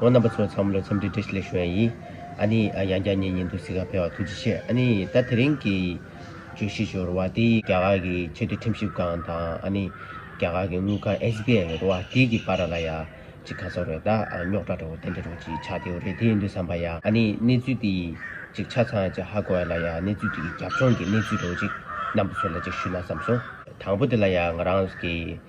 ཨོ་རྣམ་པ་ཚོའི་འཚམས་བློའི་འཚམས་འདྲི་བཀྲིས་ལེགས་ཞུ་ཨ་ཡིས། ཨ་ནི། ཡང་བསྐྱར་ངེད་གཉིས་འདུ་སི་ཁར་ཕེབས་བར་ཐུགས་རྗེ་ཆེ་ཨ་ནི། ད་དེ་རིང་གི། བརྗོད་གཞི་ཞུ་རུ་བ་དེ་རྒྱ་གར་གྱི་ཆེ་མཐོའི་ཁྲིམས་ཞིབ་ཁང་དང་ཨ་ནི། རྒྱ་གར་གྱི་དངུལ་ཁང་ཨེས་བྷི་ཨའི་རུ་བ་དེ་གྱི་བར་ལ་ཡ། ཅིག་ཁ་སོ་རེད་ད་རྙོག་དྲ་འདྲ་བོ་དེ་འདྲ་རུ་ཅིག་ཆགས་དེའུ་རེད་དེ་འདུ་བསམ་པ་ཡ་ཨ་ནི་གནས་ཚུལ་དེ། ཅིག་ཆ་ཚང་ཅིག་ཧ་གོ་ཨེ་ལ་ཡ་གནས་ཚུལ་དེ་གི་རྒྱབ་ལྗོངས་ཀྱི་གནས་ཚུལ་རེ་བོ་ཅིག་རྣམ་པ་ཚོ་ལ་ཅིག་ཞུས་ན་བསམ་སོང། དང་པོ་དེ་ལ་ཡ་ང་རང་གི།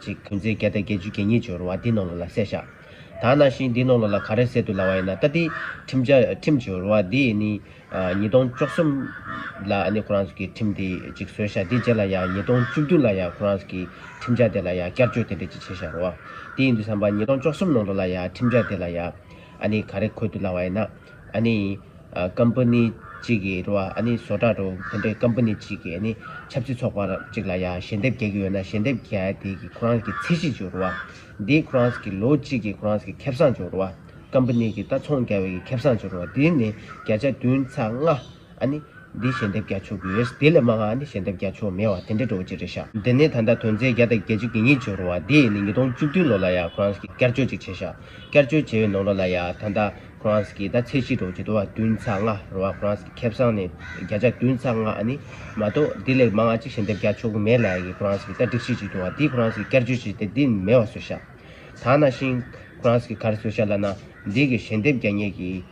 ཅིག་བུན་ཚེ་བརྒྱ་དང་བརྒྱད་ཅུ་གྱ་གཉིས་སྦྱོར་བ་འདི་རྣོ་ལོ་ལ་བསྲེ་བཞག། ད་ནང་བཞིན་འདི་རྣོ་ལོ་ལ་ག་རེ་བསྲེ་དུ་ལ་བ་ཡིན་ན་ད་ཏི། ཁྲིམས་བྱ་ཁྲིམས་སྦྱོར་བ་འདི་ནི། ཉིས་སྟོང་བཅུ་གསུམ། ལ་ནི་ཁོ་རང་གི་ཁྲིམས་དེ་ཅིག་བཟོས་བཞག་དེ་རྗེས་ལ་ཡང་ཉིས་སྟོང་བཅུ་བདུན་ལ་ཡང་ཁོ་རང་གི་ཁྲིམས་བྱ་དེ་ལ་ཡང་བསྐྱར་བཅོས་དེ་འདྲ་ཅིག་བྱེད་བཞག་རོགས། དེ་ཡིན་དུས་བསམ་པ་ཉིས་སྟོང་བཅུ་གསུམ་ནང་དུ་ལ་ཡང་ཁྲིམས་བྱ་དེ་ལ་ཡང། ཨ་ནི་ག་རེ་འཁོད་དུ་ལ་བ་ཡིན་ན། ཨ་ནི། Company། གཅིག་གི་རུ་ཨ་ནི་བཟོ་གྲྭ་རུ་དེ་འདྲའི Company གཅིག་གི་ཨ་ནི་ཆབ་སྲིད་ཚོགས་པ་གཅིག་ལ་ཡ་ཞལ་འདེབས་རྒྱག་གི་ཡོད་ན་ཞལ་འདེབས་རྒྱལ་དེ་གི་ཁོ་རང་གི་ཚད་གཞི་གཅིག་རུ་ཨ་དེའི་ཁོ་རང་གི་ལོ་གཅིག་གི་ཁོ་རང་གི་ཁེབ་བསང་གཅིག་རུ་ཨ Company གི་ལྟ་ཚོང་རྒྱ་བའི་གི་ཁེབ་བསང་གཅིག་རུ་ཨ་དེ་ནི་བརྒྱ་ཆ་བདུན་ཚ་ལྔ། ཨ་ནི། འདི་ཞལ་འདེབས་རྒྱ་ཆོག་གི་ཡོད། དེ་ལས་མ་འང་ཨ་ནི་ཞལ་འདེབས་རྒྱ་ཆོག་མེད་བ་དེ་འདྲ་འགྲོ་བ་ཅི་རེད་ཤག། དེ་ནས་ད་ལྟ་དོན་ཚན་བརྒྱ་དང་བརྒྱད་ཅུ་གྱི་ཉིན་འབྱོར་བ་དེ་ནི་ཉིས་སྟོང་བཅུ་བདུན་ལོ་ལ་ཡང་ཁོ་རང་གིས་བསྐྱར་བཅོས་ཅིག་བྱས་ཤག་བསྐྱར་བཅོས་བྱས་བའི་ནང་རོ་ལ་ཡང་ད་ལྟ་ཁོ་རང་གིས་ད་ཚེས་གཅིག་འགྲོ་བ་ཇི་ལྟ་བ་བདུན་ཚ་ལྔ་རོ་བ་ཁོ་རང་གིས་ཁེབས་བཟང་ནས་བརྒྱ་ཆ་བདུན་ཚ་ལྔ་ཨ་ནི། མ་གཏོགས་འདི་ལས་མ་འང་ཅིག་ཞལ་འདེབས་རྒྱ་ཆོག་གི་མེད་ལ་ཡ་གིས་ཁོ་རང་གིས་ད་སྒྲིག་གཞི་ཅིག་འདུག་བ་དེ་ཁོ་རང་གིས་བསྐྱར་བཅོས་བྱས་ཏེ་འདི་ནི་མེད་བ་བཟོས་ཤག། ད་ནང་བཞིན། ཁོ་རང་གིས་ག་རེ་བཟོས་ཤག་ལ་ན། འདི་གི་ཞལ་འདེབས་རྒྱ་ཉེས་ཀྱི།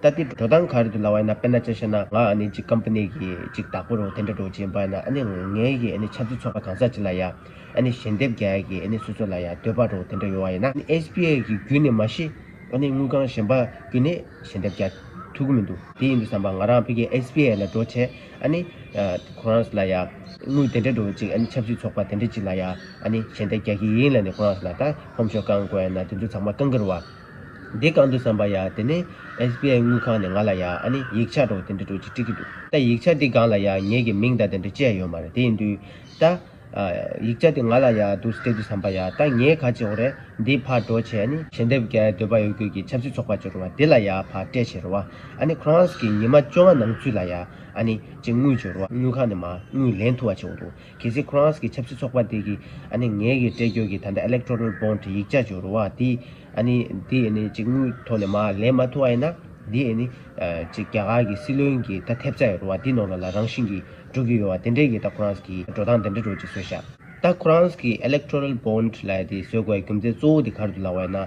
ད་ལྟའི་འགྲོ་སྟངས་ག་རེ་འདུག་ལ་བ་ཡིན་ན་དཔེར་ན་ཅི་ཞེ་ན་ང་ཨ་ནི་གཅིག་ཀམ་པ་ནི་གི་གཅིག་བདག་པོ་རུ་དེ་འདྲ་འགྲོ་བྱེད་པ་ན་ཨ་ནི་ངའི་གི་ཨ་ནི་ཆབ་སྲིད་ཚོགས་པ་གང་ཟག་གཅིག་ལ་ཡ་ཨ་ནི་ཞལ་འདེབས་རྒྱ་ཡ་གི་ཨ་ནི་སུ་སུ་ལ་ཡ་འདོད་པ་རུ་དེ་འདྲ་ཡོད་བ་ཡིན་ན་ཨ་ནི་ཨེས་པི་ཨེ་གི་རྒྱུད་ནས་མ་ཤི་ཨ་ནི་དངུལ་ཁང་གཞན་པ་རྒྱུད་ནས་ཞལ་འདེབས་རྒྱ་ཐུག་གི་མི་འདུག་དེ་ཡིན་དུ་བསམ་པ་ང་རང་ཕི་གི་ཨེས་པི་ཨེ་ལ་འགྲོ་ཆེད་ཨ་ནི་ཁོ་རང་ས་ལ་ཡ་དངུལ་དེ་འདྲ་འགྲོ་ཅིག་ཨ་ནི་ཆབ་སྲིད་ཚོགས་པ་དེ་འདྲ་གཅིག་ལ་ཡ་ཨ་ནི་ཞལ་འདེབས་རྒྱ་གི་ཡིན་ལ་ནི་ཁོ་རང་ས་ལ་ད་ཧོམ་ཤོག་བསྐང་དགོས་ན་དེ་ཚོ་ཚང་མ་བསྐང་གི་རུ་བ། འདི་གང་འདུག་བསམ་པ་ཡ་དེ་ནས SBI དངུལ་ཁང་ནས་ང་ལ་ཡ་ཨ་ནི་ཡིག་ཆ་འགྲོ་དེ་འདྲ་འགྲོ་ཅིག་སྤྲི་གི་འདུག་ད་ཡིག་ཆ་འདི་སྒང་ལ་ཡ་ངེད་ཀྱི་མིང་དང་དེ་འདྲ་བཅས་ཡོད་མ་རེད་དེ་ཡིན་དུས་ད། ཡིག་ཆ་འདི་ང་ལ་ཡ་འདུག་སྤྲད་དུས་བསམ་པ་ཡ་ད་ངས་ག་ཅིག་འོ་རེད་འདི་ཕར་འགྲོ་བྱས་ཨ་ནི། ཞལ་འདེབས་རྒྱ་ཡའི་འདོད་པ་ཡོད་རྒུས་ཀྱི་ཆབ་སྲིད་ཚོགས་པ་ཅིག་རུང་བ་འདི་ལ་ཡ་ཕར་སྤྲད་བྱས་རུང་བ་ཨ་ནི་ཁོང་རང་ཀྱི་ཉི་མ་བཅོ་ལྔ་ནང་ཚུད་ལ་ཡ་ཨ་ནི་ཅིག་དངུལ་བྱོས་རུང་བ་དངུལ་ཁང་ནས་མ་དངུལ་ལེན་ཐུབ་བ་བྱས་འོ་འདུག། གལ་སྲིད་ཁོ་རང་གི་ཆབ་སྲིད་ཚོགས་པ་དེ་གིས་ཨ་ནི་ངེད་གི་བཀྲལ་འགྱོད་ཀྱི་ད་ལྟ electoral bond ཡིག་ཆ་ཇོ་རུ་བ་དེ་ཨ་ནི་དེ་ཨ་ནི་ཅིག་དངུལ་ཐོག་ནས་མ་ལེན་མ་ཐུབ་བ་ཡིན་ན་དེ་ཨ་ནི་ཅིག་རྒྱ་གར་གི་སྲིད་བློན་གྱི་ད་ཐེབས་རྩ་ཡོ་རུ་བ་དེ་ནོར་ལ་ལ་རང་བཞིན་གྱི་འགྲོ་གི་ཡོ་བ་དེ་འདྲའི་གི་ད་ཁོ་རང་གི་འགྲོ་སྟངས་དེ་འདྲ་འགྲོ་ཅིག་བཟོས་ཤག། ད་ཁོ་རང་གི electoral bond ལ་དེ་བཟོས་དགོས་པའི་རྒྱུ་མཚན་གཙོ་བོ་དེ་གར་དུ་ལ་བ་ཡིན་ན།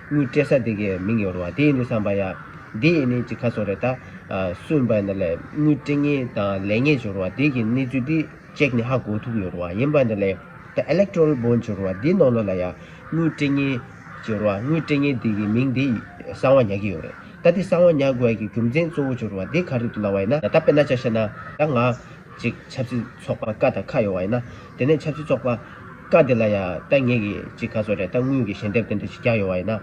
ཀླུ་སྤྲད་ས་དེ་གའི་མིང་ཡོར་བ་དེ་ཡིན་འདུག་བསམ་པ་ཡ། འདི་ཡིན་ནི་ཅི་ཁ་སོ་རེད་ད། སུན་པ་འདི་ལས་དངུལ་སྤྲད་ངེས་དང་ལེན་ངེས་འབྱོར་བ་དེ་གའི་གནས་ཚུལ་འདི་ཅེག་ནི་ཧ་གོ་ཐུབ་ཡོར་བ་ཡིན་པ་འདི་ལས། ད Electoral Bond འབྱོར་བ་འདི་ནོར་ལོ་ལ་ཡ། དངུལ་སྤྲད་ངེས་འབྱོར་བ་དངུལ་སྤྲད་ངེས་དེ་གའི་མིང་འདི་གསང་བ་ཉག་གི་ཡོར་རེད་ད། འདི་གསང་བ་ཉག་དགོས་ཀྱི་རྒྱུ་མཚན་གཙོ་བོ་འབྱོར་བ་འདི་ག་རེད་འདུག་ལ་བས་ན་ད་པེ་ན་ཅག་བཤད་ན་ད་ང། ཅིག་ཆབ་སྲིད་ཚོགས་པ་ཀ་དང་ཁ་ཡོང་བ་ཡིན་ན། དེ་ནས་ཆབ་སྲིད་ཚོགས་པ་ཀ་དེ་ལ་ཡ་ད་ངེས་ཀྱི་ཅིག་ག་ཚོ་རེ་ད་དངུལ་གྱི་ཞལ་འདེབས་དེ་འདྲ་ཅིག་རྒྱག་ཡོང་བ་ཡིན་ན།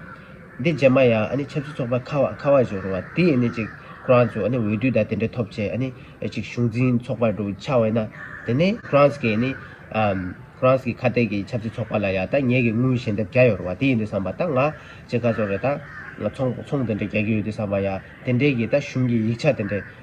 འདི་རྗེས་མ་ཡ་ཨ་ནི་ཆབ་སྲིད་ཚོགས་པ་ཁ་བ་ཁ་བ་ཅིག་རུང་བ་དེ་ཡིན་ནི་ཅིག་ཁོ་རང་ཚོས་ཨ་ནི་འོས་བསྡུ་དང་དེ་འདྲ་ཐོབ་ཆེད་ཨ་ནི་ཅིག་གཞུང་འཛིན་ཚོགས་པ་རུ་ཆགས་བ་ཡིན་ན། དེ་ནས་ཁོ་རང་ཚོ་གིས་ཨ་ནི། ཁོ་རང་ཚོ་གིས་ཁ་གཏད་ཀྱི་ཆབ་སྲིད་ཚོགས་པ་ལ་ཡ་ད་ངེས་ཀྱི་དངུལ་ཞལ་འདེབས་རྒྱག་ཡོང་རུང་བ་དེ་ཡིན་དུས་བསམ་པ་ད་ང་ཅིག་ག་ཚོ་རེ་ད། ཚོང་དེ་འདྲ་རྒྱག་གི་ཡོད་དུས་བསམ་པ་ཡ་དེ་འདྲས་ཀྱི་ད་གཞུང་གི་ཡིག་ཆ་དེ་འདྲ་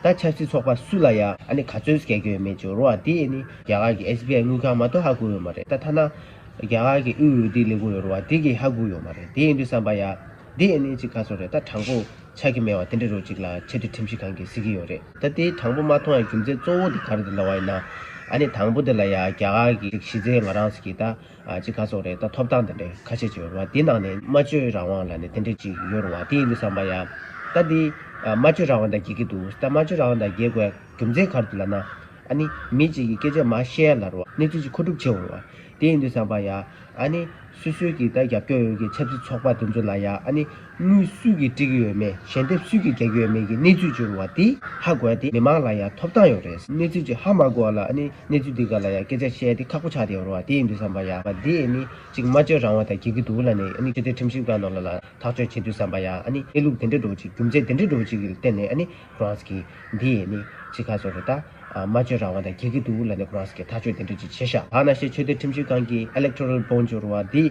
ད་ཆབ་སྲིད་ཚོགས་པ་སུ་ལ་ཡང་ཨ་ནི་ག་ཚོད་སྐྱེལ་རྒྱུ་ཡོད་མེད་ཀྱི་རོ་བ་དེ་ནི་རྒྱ་གར་གྱི SBI དངུལ་ཁང་མ་གཏོགས་ཧ་གོ་ཡོད་མ་རེད་ད་ཐ་ན་རྒྱ་གར་གྱི་དབུས་འོས་བསྡུའི་ལས་ཁུངས་ཡོད་རོ་བ་དེ་གྱིས་ཧ་གོ་ཡོད་མ་རེད་དེ་ཡིན་དུས་བསམ་པ་ཡ། འདི་ཨེ་ནི་ཅིག་ག་ཚོད་རེད་ད་དྲང་པོ་ཆགས་ཀྱི་མེད་བ་དེ་འདྲ་རོ་གཅིག་ལ་ཆེ་བསྟོད་ཁྲིམས་གཞི་གང་གིས་གཟིགས་ཀྱི་ཡོད་རེད། ད་དེ་དྲང་པོ་མ་མཐོང་ཡང་རྒྱུ་མཚན་གཙོ་བོ་དེ་ག་རེ་དེ་ལ་བ་ཡིན་ན་ཨ་ནི་དང་པོ་དེ་ལ་ཡང་རྒྱ་གར་གྱི་གཞི་རྩའི་ང་རང་ཟེར་གྱི་ད། ཅི་ག་སོགས་རེད་ད་ཐོབ་ཐང་དེ་འདྲ་ཁ་ཤས་ཆེ་བ་འདི་ནང་ནས་སྨྲ་བརྗོད་རང་དབང་ལ་ནས་དེ་འདྲ་ཅིག་ཡོད་རུང་བ་དེ་ཡིན་དུ་བསམ་པ་ཡ། ད་འདི། སྨྲ་བརྗོད་རང་དབང་དང་འགལ་གྱི་འདུག་ད་སྨྲ་བརྗོད་རང་དབང་དང་འགལ་དགོས་རྒྱུ་མཚན་ག་རེ་འདུག་ལ་ན། ཨ་ནི། མི་གཅིག་གིས་སྐད་ཆ་མ་བཤད་ལ་རུང་བ་གནས་ཚུལ་ཅིག་མཁོ་སྒྲུབ་བྱེད་འོང་བ་དེ་ཡིན་དུ་བསམ་པ་ཡ། ཨ་ནི། སུས་སུས་ཀྱིས་ད་རྒྱབ་སྐྱོར་ཡོང་གི་ཆབ་སྲིད་ཚོགས་པ་དེ་ཚོ་ལ་ཡ་ཨ་ནི། དངུལ་སུས་ཀྱིས་སྤྲི་གི་ཡོད་མེད་ཞལ་འདེབས་སུས་ཀྱིས་རྒྱག་གི་ཡོད་མེད་ཀྱི་གནས་ཚུལ་བྱུང་བ་དེ་ཧ་གོ་ཡ་དེ་མི་མང་ལ་ཡང་ཐོབ་ཐང་ཡོད་རེད་གནས་ཚུལ་དེ་ཧ་མ་གོ་བ་ལ་ནི་གནས་ཚུལ་འདི་ག་ལ་ཡང་སྐད་ཆ་བཤད་དེ་ཁག་པོ་ཆགས་ཏེ་འོར་བ་དེ་ཡིན་འདུག་བསམ་པ་ཡ་བ་དེ་ནི་ཅིག་སྨྲ་བརྗོད་རང་དབང་དང་འགལ་གི་འདུག་ལ་ནི་ནི་ཆོས་དད་ཁྲིམས་ཞིབ་ཁང་ནང་ལ་ལ་ཐག་གཅོད་བྱེད་དུས་བསམ་པ་ཡ་ནི་གནས་ལུགས་དེ་འདྲ་འགྲོ་བ་ཅིག་རྒྱུ་མཚན་དེ་འདྲ་འགྲོ་བ་ཅིག་གི་སྟེང་ནས་ནི་ཀྲོངས་ཀྱི་འདི་ནི་ཅིག་ཁ་ཚོར་རེ་ད་སྨྲ་བརྗོད་རང་དབང་དང་འགལ་གི་འདུག་ལ་ནི་ཀྲོངས་ཀྱི་ཐག་གཅོད་དེ་འདྲ་ཅིག་བྱེད་ཤག་ད་ནང་བཤད་ཆོས་དད་ཁྲིམས་ཞིབ་ཁང་གི་ཨེ་ལེག་ཐོ་རལ་བོང་འབྱོར་བ་དེ།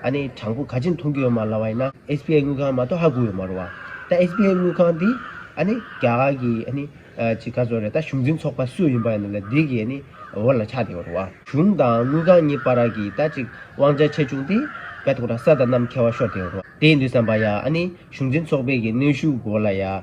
ཨ་ནེ་དྲང་པོ་ག་ཅི་མཐོང་གི་ཡོད་མ་ལ་བ་ཡིན་ན SBI དངུལ་ཁང་མ་གཏོགས་ཧ་གོ་ཡོད་མ་རུ་བ། ད SBI དངུལ་ཁང་དེ་ཨ་ནེ་རྒྱ་གར་གི་ཨ་ནེ་ཅི་ག་ཚོ་རེད་ད་གཞུང་འཛིན་ཚོགས་པ་སུ་ཡིན་པ་ཡིན་ནམ་ལ་དེ་གི་ཨ་ནེ་འོག་ལ་ཆགས་བསྡད་པ་རུ་བ། གཞུང་དང་དངུལ་ཁང་གཉིས་པ་ར་གི་ད་ཅིག་དབང་ཆ་ཆེ་ཆུང་དེ་བད་ཐོག་དང་ས་དང་གནམ་ཁྱད་བ་ཤོར་བསྡད་པ་རུ་བ། དེ་ཡིན་དུས་བསམ་པ་ཡ་ཨ་ནེ་གཞུང་འཛིན་ཚོགས་པའི་གི་གནོན་ཤུགས་གོ་ལ་ཡ།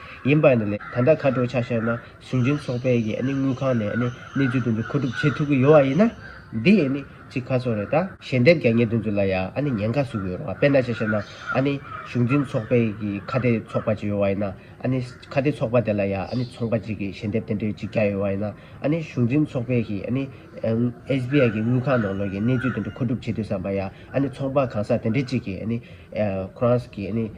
ཡིན་པ། ད་ལྟ་ཁ་དྲོ་ཆ་ཤས་ན་ཞིང་ཆེན་ཚོགས་པའི་གི་དངུལ་ཁང་ནས་གནས་ཚུལ་དེ་ཚོ་མཁོ་སྒྲུབ་བྱེད་ཐུབ་ཀྱི་ཡོད་ཡིན་ན། འདི་གཅིག་ཁ་སོ་རེད་ད། ཞལ་འདེབས་རྒྱ་ཉེ་དེ་ཚོ་ལ་ཡང་ཉེན་ཁ་བཟོས་ཀྱི་ཡོད་རེད་བ་དཔེར་ན་ཆ་ཤས་ན་ཞིང་ཆེན་ཚོགས་པའི་གི་ཁ་བརྡའི་ཚོགས་པ་ཅིག་ཡོད་ཡིན་ན། ཁ་བརྡའི་ཚོགས་པ་དེ་ལ་ཡང་ཚོང་པ་ཅིག་གི་ཞལ་འདེབས་དེ་འདྲའི་ཅིག་རྒྱག་ཡོད་ཡིན་ན། ཞིང་ཆེན་ཚོགས་པའི་གི SBI གི་དངུལ་ཁང་ནང་གནས་ཚུལ་དེ་ཚོ་མཁོ་སྒྲུབ་བྱེད་ཐུབ་བསམ་པ། ཚོང་པ་གང་ཟག་དེ་འདྲའི་ཅིག་གི་ཁོ་རང་གི།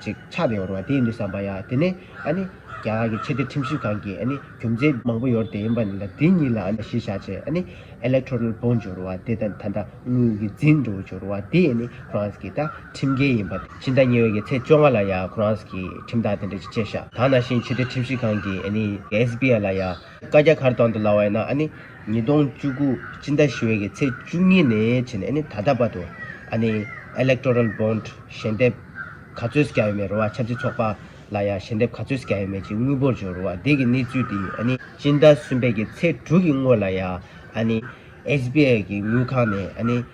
ཅིག་ཆགས་ཏེ་ཡོར་བ་དེ་ཡིན་དུ་བསམ་པ་ཡ་དེ་ནས་ཨ་ནི་རྒྱ་གར་གྱི་ཆེད་དོན་ཁྲིམས་ཞིབ་ཁང་གིས་ཨ་ནི་རྒྱུ་མཚན་མང་པོ་ཡོར་དེ་ཡིན་པ་ནི་ལ་དེ་གཉིས་ལ་ཨ་ནི་གཞིས་ཆགས་ཆེད་ཨ་ནི Electoral Bond སྦྱོར་བ་དེ་དང་ད་ལྟ་དངུལ་གྱི་འཛིན་གྲོལ་སྦྱོར་བ་དེ་ཨ་ནི France གྱི་ད་ཁྲིམས་འགལ་ཡིན་པ། ཕྱི་ཟླ་གཉིས་ཀྱི་ཚེས་བཅོ་ལྔ་ལ་ཡ France གྱི་ཁྲིམས་བདག་དེ་འདྲ་ཅིག་བཅས་ཤག་ད་ནང་བཞིན་ཆེད་དོན་ཁྲིམས་ཞིབ་ཁང་གིས་ཨ་ནི SBI ལ་ཡ་བཀའ་རྒྱ་གར་དང་དུ་ལ་བ་ཡིན་ན་ཨ་ནི་ཉིས་སྟོང་བཅུ་དགུ་སྤྱི་ཟླ་བཞི་བའི་གི་ཚེས་བཅུ་གཉིས་ནས་ཕྱིན་ནས་ཨ་ནི་ད་ལྟ་བར་དུ་ཨ་ནི Electoral Bond ཞལ་འདེབས་ག་ཚོད་བསྐྱ་ཡོད་མེད་རུ་བ་ཆབ་སྲིད་ཚོགས་པ་ལ་ཡང་ཞལ་འདེབས་ག་ཚོད་བསྐྱ་ཡོད་མེད་ཀྱི་དངུལ་འབོར་འཇོག་རུ་བ་དེ་གི་གནས་ཚུལ་དེ་ཨ་ནི་སྤྱི་ཟླ་གསུམ་པའི་གི་ཚེས་དྲུག་གི་སྔོན་ལ་ཡང་ཨ་ནི SBI གི་དངུལ་ཁང་ནས་ཨ་ནི།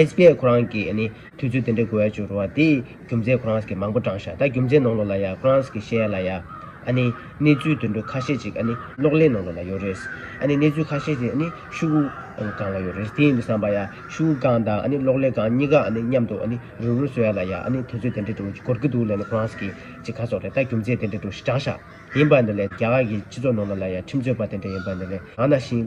ཨེས་པི་ཨེ་ཁོ་རང་གིས་ནི་དུས་ཚོད་དེ་འདྲའི་དགོས་ཡ་ཅུང་རུང་བ་དེ་རྒྱུ་མཚན་ཁོ་རང་གིས་མང་པོ་བགྲང་ཤག་ད་རྒྱུ་མཚན་ནང་ལོགས་ལ་ཡ་ཁོ་རང་གིས་བཤད་ཡ་ལ་ཡ། ཨ་ནི་གནས་ཚུལ་དུད་འགྲོ་ཁ་ཤས་ཅིག་ཨ་ནི་གློག་ཀླད་ནང་ལོགས་ལ་ཡོད་རེད། ཨ་ནི་གནས་ཚུལ་ཁ་ཤས་དེ་ཨ་ནི་ཤུ་གུ་སྒང་ལ་ཡོད་རེད་དེ་ཡིན་དུ་བསམ་པ་ཡ་ཤུ་གུ་སྒང་དང་ཨ་ནི་གློག་ཀླད་སྒང་གཉིས་ཀ་ཨ་ནི་མཉམ་དུ་ཨ་ནི་རུ་རུ་བཟོ་ཡ་ལ་ཡ་ཨ་ནི་དུས་ཚོད་དེ་འདྲའི་འགྲོ་གི་འགོར་གི་འདུག་ལས་ནི་ཁོ་རང་གིས་ཅིག་ཁ་སོགས་རེད་ད་རྒྱུ་མཚན་དེ་འདྲའི་འགྲོ་ཞིག་བགྲང་ཤག་ཡིན་པ་འདི་ལས་རྒྱ་གར་གྱི་སྤྱི་ཚོགས་ནང་ལོགས་ལ་ཡ་ཁྲིམས་རྩོད་པ་དེ་འདྲ་ཡིན་པ་འདི་ལས་གང་ན་ཤིང།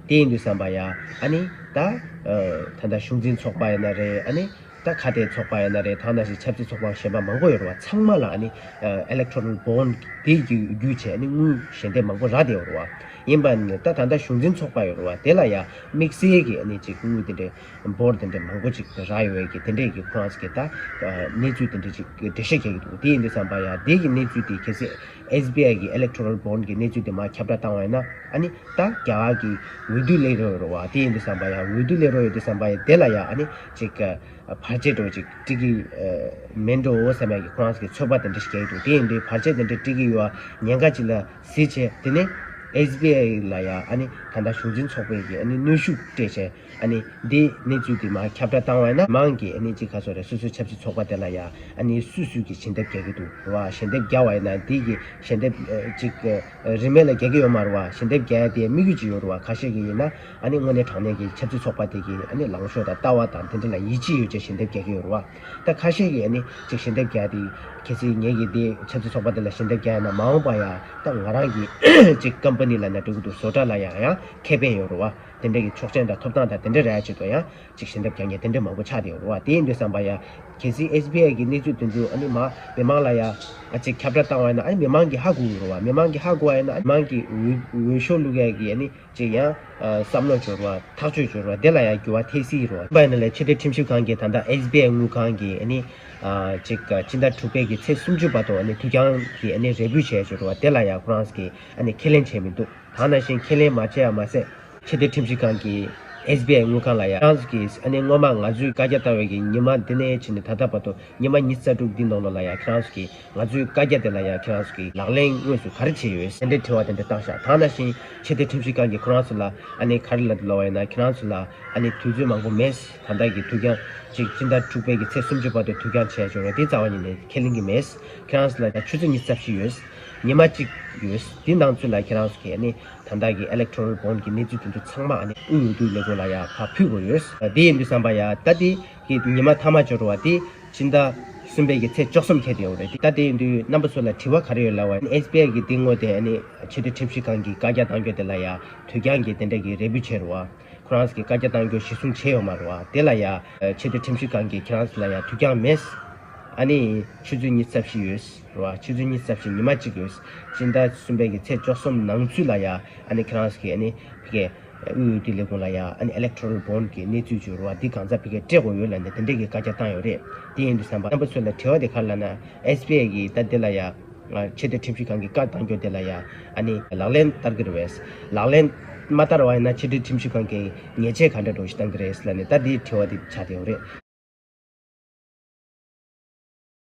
དེ་ཡིན་དུས་བསམ་པ་ཡ། ཨ་ནི། ད། ད་ལྟ་གཞུང་འཛིན་ཚོགས་པ་ཡ་ན་རེ་ཨ་ནི། ད་ཁ་གཏད་ཚོགས་པ་ཡ་ན་རེ་ཐང་ན་ཞིག་ཆབ་སྲིད་ཚོགས་པ་གཞན་པ་མང་པོ་ཡོད་རེ་བ་ཚང་མ་ལ་ཨ་ནི། Electoral Bond། དེ་རྒྱུ་ཆས་ཨ་ནི་དངུལ་ཞལ་འདེབས་མང་པོ་རག་བསྡད་ཡོད་རེ་བ། ཡིན་པ་ནི་ད་ད་ལྟ་གཞུང་འཛིན་ཚོགས་པ་ཡོད་རེ་བ་དེ་ལ་ཡ། དམིགས་བསལ་གྱི་ཨ་ནི་ཅིག་དངུལ་དེ་འདྲའི། Bond། དེ་འདྲའི་མང་པོ་ཅིག་རག་ཡོད་ཀྱི་དེ་འདྲས་ཀྱི་ཁོ་རང་ཚོ་གི་ད། གནས་ཚུལ་དེ་འདྲས་ཅིག་འགྲེལ་བཤད་བྱས་ཀྱི་འདུག་དེ་ཡིན་དུས་བསམ་པ་ཡ། དེ་ཡི་གནས་ཚུལ་དེ་གལ་སྲིད། SBI གི Electoral Bond གི་གནས་ཚུལ་དེ་མ་ཁྱབ་བསྒྲགས་བཏང་བ་ཡིན་ན་ཨ་ནི་ད་རྒྱ་གར་གྱི་འོས་བསྡུ་སླེལ་རོགས་ཡོད་རོགས་དེ་ཡིན་དུ་བསམ་པ་ཡང་འོས་བསྡུ་སླེལ་རོགས་ཡོད་དུ་བསམ་པ་ཡིན་དེ་ལ་ཡང་ཨ་ནི་ཅིག་བར་ཆད་འགྲོ་ཅིག་དཀྲིག་གི་མེད་འགྲོ་འོ་བསམ་ཡང་གི་ཁོང་རང་གི་ཚོད་དཔག་དེ་འདྲ་ཞིག་རྒྱག་གི་འདུག་དེ་ཡིན་དུས་བར་ཆད་དེ་འདྲ་དཀྲིག་གི་ཡོད་ཨ་ཉེན་ཁ་ཅིག་ལ་གཟིགས་བྱས་དེ་ནས SBI ལ་ཡང་ཨ་ནི་ད་ལྟ་གཞུང་འཛིན་ཚོགས་པས་ཀྱི་ཨ་ནི་གནོད་ཤུགས་སྤྲད་བྱས། འདིའི་གནས་ཚུལ་དེ་མ་ཁྱབ་བསྒྲགས་བཏང་བ་ཡིན་ན་མང་གི་གནས་ཚིག་ཁ་སོ་རེད་སོ་སོའི་ཆབ་སྲིད་ཚོགས་པ་དེ་ལ་ཡང་སུས་སུས་ཀྱིས་ཞལ་འདེབས་རྒྱག་གི་འདུག་བ་ཞལ་འདེབས་རྒྱག་བ་ཡིན་ན་འདི་ཀྱི་ཞལ་འདེབས་ཅིག་རིན་མེད་ལ་རྒྱག་གི་ཡོད་མ་རུ་བ་ཞལ་འདེབས་རྒྱག་དེ་དམིགས་ཡུལ་ཅིག་ཡོད་རུ་བ་ཁ་ཤས་ཀྱི་ཡིན་ན་དངོས་གནས་དྲང་གནས་ཀྱི་ཆབ་སྲིད་ཚོགས་པ་དེ་ཀྱི་ལངས་ཕྱོགས་དང་ལྟ་བ་དང་དེ་འདྲ་ལ་ཡིད་ཆེས་ཡོད་ཅེས་ཞལ་འདེབས་རྒྱག་གི་ཡོད་རུ་བ་ད་ཁ་ཤས་ཀྱིས་ཅིག་ཞལ་འདེབས་རྒྱག་དེ་གལ་སྲིད་ངེད་ཀྱིས་འདི་ཆབ་སྲིད་ཚོགས་པ་དེ་ལ་ཞལ་འདེབས་རྒྱག་ཡ་ན་མ་འོངས་པ་ཡང་ད་ང་རང་གིས་ཅིག་ཀམ་པ་ནི་ལ་ན་འགྲོ་གི་འདུག་བཟོ་གྲྭ་ལ་ཡང་ཡང་ཁེ་ཕན་ཡོད་རུ་བ། དེ་འདྲ་གི་ཆོག་མཆན་དང་ཐོབ་ཐང་དང་དེ་འདྲ་རེ་ཨ་ཅེ་ཏོ་ཡང་ཅིག་བཞེས་འདབ་ཀྱང་ཀྱང་དེ་འདྲ་མང་པོ་ཆགས་དེ་འོ་ཨ་དེའི་འདོད་བསམ་པ་ཡང་གལ་སྲིད་ཨེས་བྷི་ཨའི་གི་གནས་ཚུལ་སྟོན་རྒྱུ་ཨ་ནི་མ་མི་མང་ལ་ཡང་ཨ་ཅིག་ཁྱབ་བསྒྲགས་བཏང་བ་ཡིན་ན་ཨ་ནི་མི་མང་གི་ཧ་གོ་གི་རོ་ཨ་མི་མང་གི་ཧ་གོ་བ་ཡིན་ན་ཨ་མང་གི་འོས་འོས་ཤོག་བླུག་ཡ་གི་ཨ་ནི་ཅིག་ཡང་བསམ་བློ་འབྱོར་བ་ཐག་གཅོད་འབྱོར་བ་དེ་ལ་ཡང་འགྱུར་བ་ཐེབས་སྲིད་རོ་ཨ། པ་ཡིན་ན་ལས་ཆེ་བསྟོད་ཁྲིམས་ཞིབ་ཁང་གི་ད་ལྟ་ཨེས་བྷི་ཨའི་དངུལ་ཁང་གི་ཨ་ནི་ཅིག་སྤྱི་ཟླ་དྲུག་པའི་གི་ཚེས་སུམ་ཅུ་པ་ཐོག་ཨ་ནི་དུས་འགྱངས་གི་ཨ་ནི་རེ་བསྐུལ་བྱས་ཡ་ཅིག་རོ་ཨ་དེ་ལ་ཡང་ཁོ་རང་གིས་ཨ་ནི་ཁས་ལེན་བྱས་མི་འདུག། གང་ན་བཞིན་ཁས་ལེན་མ་བྱས་ཡ་མ་ཟད། ཆེ་བསྟོད་ཁྲིམས་ཞིབ་ཁང་གིས SBI དངུལ་ཁང་ལ་ཡ་ཀྱང་གིས་ཨ་ནེ་སྔོན་མ་ང་ཚོས་བཀའ་རྒྱ་བཏང་བའི་གི་ཉི་མ་འདི་ནས་ཕྱིན་ནས་ད་ལྟ་བར་དུ་ཉི་མ་ཉིས་རྩ་དྲུག་འདི་ནང་ལོ་ལ་ཡ་ཀྱང་གིས་ང་ཚོས་བཀའ་རྒྱ་དེ་ལ་ཡ་ཀྱང་གིས་ལག་ལེན་དངོས་སུ་ག་རེ་བྱས་ཡོད་སེ་འདྲའི་དྲི་བ་དེ་འདྲ་བཏང་ཤག་གང་ན་བཞིན་ཆེ་བསྟོད་ཁྲིམས་ཞིབ་ཁང་གིས་ཁོ་རང་ཚོ་ལ་ཨ་ནེ་ག་རེ་ལ་འདི་ལོ་བ་ཡིན་ན་ཁྱེད་རང་ཚོ་ལ་ཨ་ནེ་དུས་ཚོད་མང་པོ་མེད་ད་ལྟ་གི་དུས་ཀྱང་གཅིག་སྤྱི་ཟླ་དྲུག་པའི་གི་ཚེས་སུམ་ཅུ་བར་དུ་དུས་ཀྱང་བྱས་ཆོག་རོ་དེའི་རྩ་བ་ཉིད་ནས་ཁས་ལེན་གི་མེད་ཁྱེད་རང་ཚོ་ལ་ད་ཆུ་ཚོད་གཉིས་རྩ་བཞི་ཡོད། ཉི་མ་གཅིག་ཡོད། དེ་ནང་ཚུད་ལ་ཁྱེད་རང་སུ་གས་ནི་ད་ལྟ་གི Electoral Bond གི་གནས་ཚུལ་དེ་ཚོ་ཚང་མ་ཨ་ནི་དབུས་འོས་བསྡུ་ལས་ཁུངས་ལ་ཡང་ཁག་ཕུད་དགོས་ཡོད། དེ་ཡིན་དུས་བསམ་པ་ཡ། ད་ལྟའི་གི་ཉི་མ་མཐའ་མ་འབྱོར་བ་དེ་སྤྱི་ཟླ་གསུམ་པའི་གི་ཚེས་བཅོ་གསུམ་ཁེལ་དུ་ཡོང་བ་རེད། ད་དེ་ཡིན་དུས་རྣམ་པ་ཚོ་ལ་དྲི་བ་ག་རེ་ཡོད་ལ་བ SBI གི་དེ་དངོས་དེ་ཨ་ནི་ཆེ་བསྟོད་ཁྲིམས་ཞིབ་ཁང་གི་བཀའ་རྒྱ་གཏང་རྒྱུ་དེ་ལ་ཡ་དུས་རྒྱང་གི་དེ་འདྲ་གི་རེ་འབུད་བྱས་རུ་བ། ཁོ་རང་ས་གི་བཀའ་རྒྱ་གཏང་རྒྱུ་གཞི་བཟུང་བྱས་ཡོད་མ་རུ་བ་དེ་ལ་ཡ། ཆེ་བསྟོད་ཁྲིམས་ཞིབ་ཁང་གི་ཁྱེད་རང་ས་ལ་ཡ་དུས་རྒྱང་མེད། ཨ་ནི་ཆུ་ཚོད་གཉིས་རྩ་བཞི་ཡོད། རེད་བ། ཕྱི་ཚུལ་གཉིས་གསལ་བྱེད་ཉི་མ་གཅིག་གིས། སྤྱི་ཟླ་གསུམ་པའི་གི་ཚེས་བཅོ་གསུམ་ནང་ཚུད་ལ་ཡ། ཨ་ནི་ཁྱེད་རང་གི་ཨ་ནི། བྷི་གའི། དབུས་འོས་བསྡུའི་ལས་ཁུངས་ལ་ཡ། ཨ་ནི Electoral Bond གི་གནས་ཚུལ་བཅུ་རུ་བ་འདི་གང་ཟག་བྷི་གའི་སྤྲད་དགོས་ཡོད་ལ་འདི་དེ་འདྲས་གི་བཀའ་རྒྱ་བཏང་ཡོད་རེད། དེ་ཡིན་དུ་བསམ་པ། རྣམ་པ་ཚོས་ལ་དྲི་བ་དེ་གར་ལ་ན། SBI གི་ད་དེ་ལ་ཡ། ཆེ་བསྟོད་ཁྲིམས་ཞིབ་ཁང་གི་བཀའ་བཏང་རྒྱུ་དེ་ལ་ཡ། ཨ་ནི། ལག་ལེན་བསྟར་གི་རུ་བས། ལག་ལེན། མ་བསྟར་བ་ཡིན་ན་ཆེ་བསྟོད་ཁྲིམས་ཞིབ་ཁང་གིས་ཉེས་ཆད་ག་འདྲ་སྒྲོག་གཞི་བཏང་གི་རེད་ལ་ནི་ད་དེའི་དྲི་བ་དེ་བྱ་དེ་ཡོད་རེད།